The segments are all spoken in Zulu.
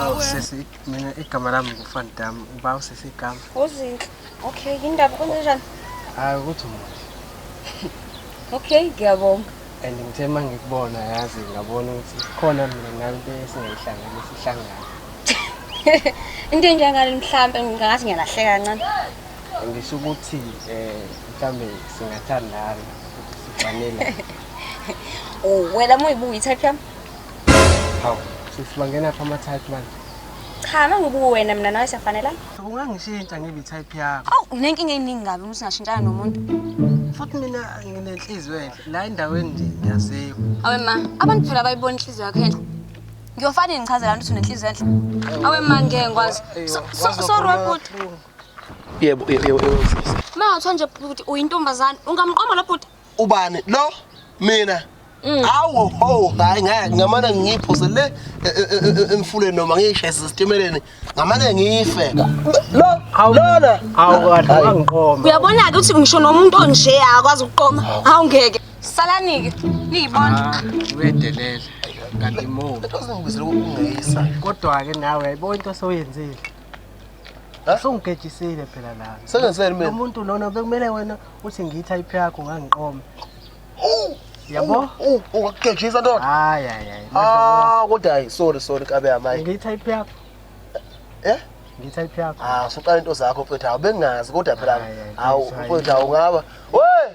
Awu sisi mina igama lami ngufani dami uba usisi igama. Uzinhle. Okay, indaba kwenze njani? Hayi ukuthi muhle. Okay, ngiyabonga. And ngithe uma ngikubona yazi ngabona ukuthi khona mina nawe into esingayihlanganisa sihlangana. Into enjengale mhlambe ngingathi ngiyalahleka kancane. Ngisho ukuthi eh mhlambe singathandana ukuthi sifanele. Oh, wena muyibuka i-type yami? Hawu, sisi bangena phi ama-type manje? Cha, mangibuka wena mina nawe siyafanelana. Ungangishintsha ngibe i-type yakho. Awu, unenkinga eningi kabi uma singashintshana nomuntu. Futhi mina nginenhliziyo enhle. La endaweni nje ngiyaziwa. Awe ma, abantu phela bayibona inhliziyo yakho enhle. Ngiyofana yini ngichazela abantu ukuthi unenhliziyo enhle? Awe ma, ngeke ngikwazi. So- so- Sorry webhuti. Yebo, yebo, yebo, yebo. Ma, kuthiwa nje bhuti uyintombazane. Ungamqoma lo bhuti? ubani lo mina mm. awu ho hayi ngeke ngamane ngiphuse le e, e, e, emfuleni noma ngiyishayise isitimeleni ngamane ngife lo lona awu angiqoma uyabona ke ukuthi ngisho nomuntu onje akwazi ukuqoma hawu ngeke salanike niyibona ah, uyedelela kanti mo kodwa ke nawe yayibona into soyenzile Usungigejisile phela la. Sengenzeni mina? Umuntu lona bekumele wena uthi ngithi ayiphi yakho ngangiqoma. Yabo? Ungagejisa ndoda. Hayi hayi hayi. Ah, kodwa hayi sorry sorry kabe yamayi. Ngithi ayiphi yakho? Eh? Ngithi ayiphi yakho? Ah, suqala into zakho mfethu. Bengazi kodwa phela. Hawu mfethu awungaba. Hey!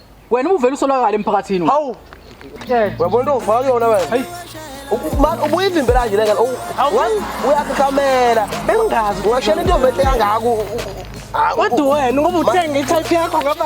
Wena ubuvela usolakala emphakathini. Hawu. Wabona into ufaka yona wena. Hayi. ubuye ivimbela nje lengane uyakukhamela bengazi ungashela into yovehle kangako kodwa wena ngoba uthenge itype yakho ngaba